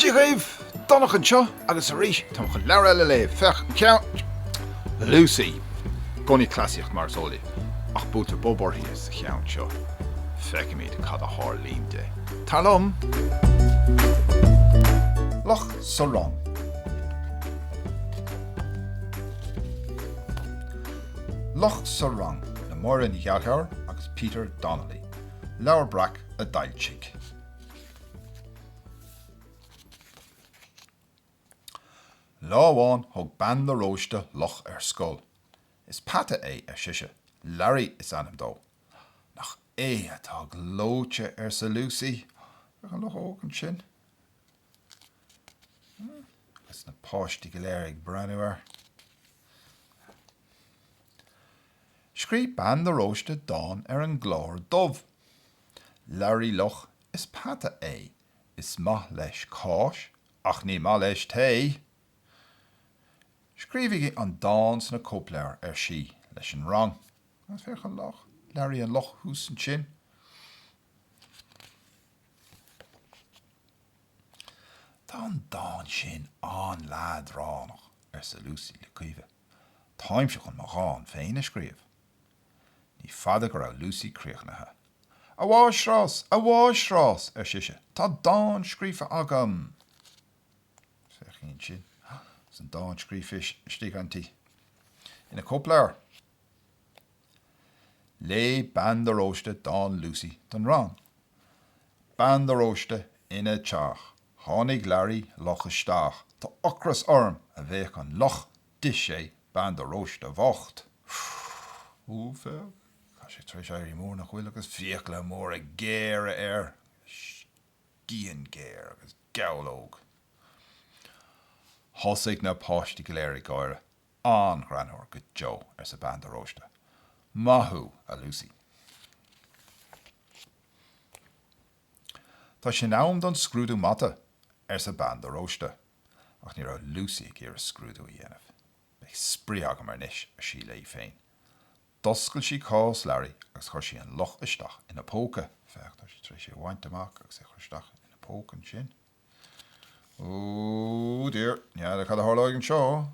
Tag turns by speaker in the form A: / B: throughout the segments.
A: Dia dhaoibh! Donncha anseo agus arís táim chun leabhar eile a léamh, féach an ceann faoi Lucy. I gcónaí cleasaíocht mar is eol daoibh, ach buailtear bob uirthi sa cheann seo. Feicfimid cad a tharlaíonn di. Tar liom! Luch sa Rang. Luch sa Rang le Máire Ní Ghallchobhair agus Peter Donnelly. Leabhar Breac a d'fhoilsigh. Lá amháin thug Bean de Róiste luch ar scoil. Is peata é, ar sise. Larry is ainm dó. Nach é atá gleoite, arsa Lucy. Féach an luchóg ansin. Agus na páistí go léir ag breathnú air, scríobh Bean de Róiste dán ar an gclár dubh, 'Labhraí luch is peata é, is maith leis cáis ach ní maith leis tae! 'Scríobhaigí an dán sna cóipleabhair, ar sí leis an rang. Agus féach an luch. Labhraí an luch thuas ansin. 'Tá an dán sin an-leadránach, arsa Lucy le Caoimhe. 'Táimse chun mo dhán féin a scríobh. Ní fada go raibh Lucy críochnaithe. 'A mháistreás! A mháistreás! ar sise. 'Tá dán scríofa agam! Féach ansin. Is an dán scríofa istigh inti. Ina cóipleabhar. Léigh Bean de Róiste dán Lucy don rang. Bean de Róiste, Ina teach, tháinig Learaí Luch isteach, Tá ocras orm! a bhéic an luch, D'ith sé Bean de Róiste bhocht. Úúúúúúúúúúúú Tá sé tar éis éirí mór nach bhfuil agus fiacla móra géara air agus scian géar agus gabhlóg. Thosaigh na páistí go léir ag gáire. An-ghreannmhar go deo, arsa bean de Róiste. Maith thú, a Lucy. Tá sé in am don scrúdú mata, arsa bean de Róiste. Ach ní raibh Lucy ag iarraidh scrúdú a dhéanamh. Beidh spraoi agam air anois, ar sí léi féin. D'oscail sí cás Larry agus chuir sí an luch isteach ina póca. Féach, tá sé tar éis é a bhaint amach agus é a chur isteach ina póca ansin. Oh dear, n'fheadar cad a tharlóidh anseo?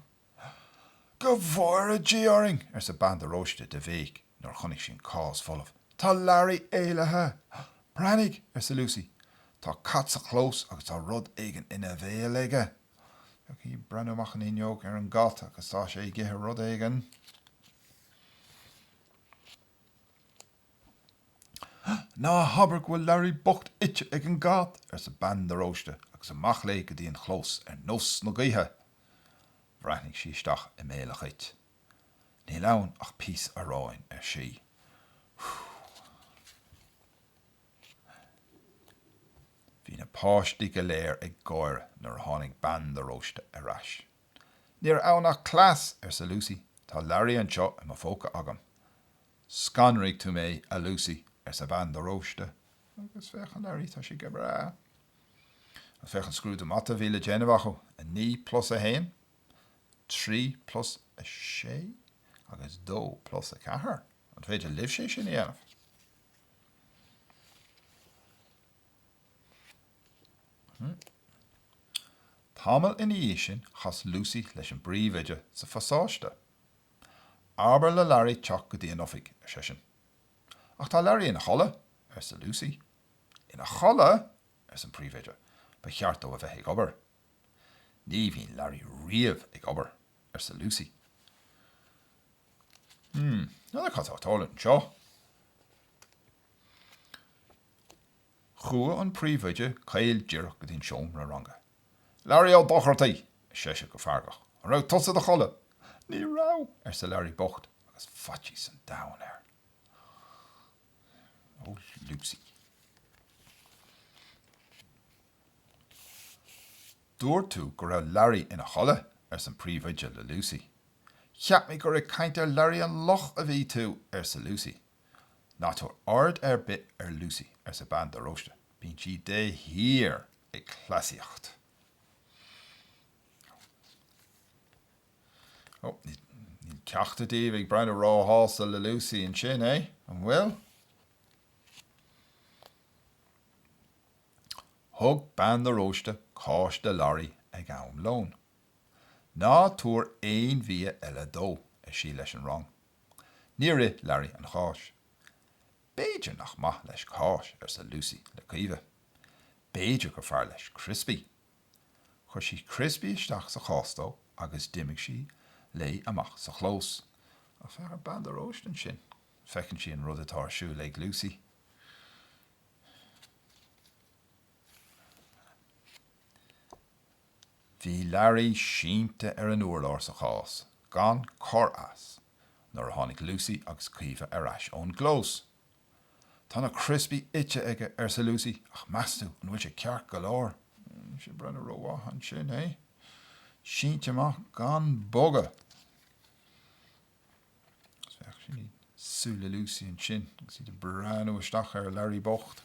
A: Go bhfóire Dia orainn! arsa bean de Róiste de bhéic nuair a chonaic sí an cás folamh. Tá Larry éalaithe! Breathnaigh! arsa Lucy. Tá cat sa chlós agus tá rud éigin ina bhéal aige! Féach í ag breathnú amach an fhuinneog ar an gcat agus tá sé ag ithe rud éigin. Ná habair go bhfuil Larry bocht ite ag an gcat, arsa bean de Róiste agus amach léi go dtí an clós ar nós na gaoithe. Bhreathnaigh sí isteach i mbéal an chait. Níl ann ach píosa aráin, ar sí. Phew. Bhí na páistí go léir ag gáire nuair a tháinig bean de Róiste ar ais. Ní raibh ann ach cleas, arsa Lucy, tá Larry anseo i mo phóca agam. Scanraigh tú mé, a Lucy, arsa bean de Róiste. Agus féach, ar Larry, tá sé go breá. Agus féach an scrúdú mata a bhí le déanamh acu, a naoi plus a haon, trí plus a sé agus dó plus a ceathair. An féidir libhse é sin a dhéanamh? Tamall ina dhiaidh sin chas Lucy leis an bpríomhoide sa phasáiste. Abair le Larry teacht go dtí an oifig, ar seisean. Ach tá Larry ina chodladh, arsa Lucy. Ina chodladh! arsa an príomhoide, ba cheart dó a bheith ag obair. Ní bhíonn Larry riamh ag obair, arsa Lucy. Hmm, n'fheadar cad tá ag tarlú anseo. Chuaigh an príomhoide caol díreach go dtí an seomra ranga. 'Larry Ó Dochartaigh! ar seisean go feargach. 'An raibh tusa i do chodladh? 'Ní raibh! arsa Larry bocht agus faitíos an domhain air. 'Ó Lucy! Dúirt tú go raibh Larry ina chodladh? arsa an príomhoide le Lucy. 'Cheap mé gur ag caint ar Larry an Luch a bhí tú! arsa Lucy. Ná tabhair aird ar bith ar Lucy, arsa bean de Róiste. Bíonn sí de shíor ag cleasaíocht. Ó, níl ceachtar díobh ag breathnú róshásta le Lucy ansin, eh? An bhfuil? Thug bean de Róiste cáis do Larry ag am lóin. Ná tabhair aon bhia eile dó, ar sí leis an rang. Níor ith Larry an cháis. B'fhéidir nach maith leis cáis, arsa Lucy le Caoimhe. B'fhéidir gur fearr leis criospaí. Chuir sí criospaí isteach sa chás dó agus d'imigh sí léi amach sa chlós. Féach ar Bean de Róiste ansin. Feiceann sí an rud atá ar siúl ag Lucy. Bhí Larry sínte ar an urlár sa chás gan cor as nuair a tháinig Lucy agus Caoimhe ar ais ón gclós. 'Tá na criospaí ite aige, arsa Lucy, 'ach meastú an bhfuil sé ceart go leor? 'Níl sé ag breathnú rómhaith ansin é. Sínte amach gan bogadh. Féach súile Lucy ansin agus í ag breathnú isteach ar Larry bocht.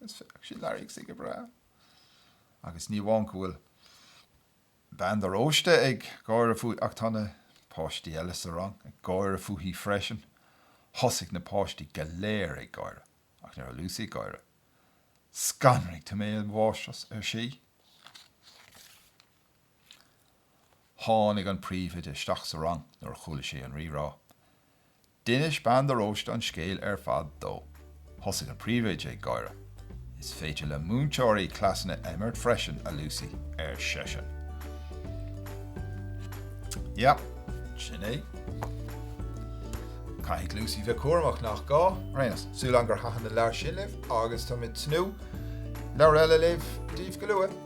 A: Is féach sin Learaí is é go breá. Agus ní amháin go bhfuil bean de Róiste ag gáire fúithi ach tá na páistí eile sa rang ag gáire fúithi freisin. Thosaigh na páistí go léir ag gáire ach ní raibh Lúsaí ag gáire. Scanraigh tú mé, a mháistreás, ar sí. Tháinig an príomhoide isteach sa rang nuair a chuala sí an rírá. D'inis Bean de Róiste an scéal ar fad dó. Thosaigh an Príomhoide ag gáire. 'Is féidir le múinteoirí cleasanna a imirt freisin, a Lucy, ar seisean. 'Yep, sin é. Caithfidh Lucy bheith cúramach, nach gá? 'Yes. Súil agam gur thaitin an leabhar sin libh, agus tá mé ag tnúth le leabhar eile a léamh daoibh go luath.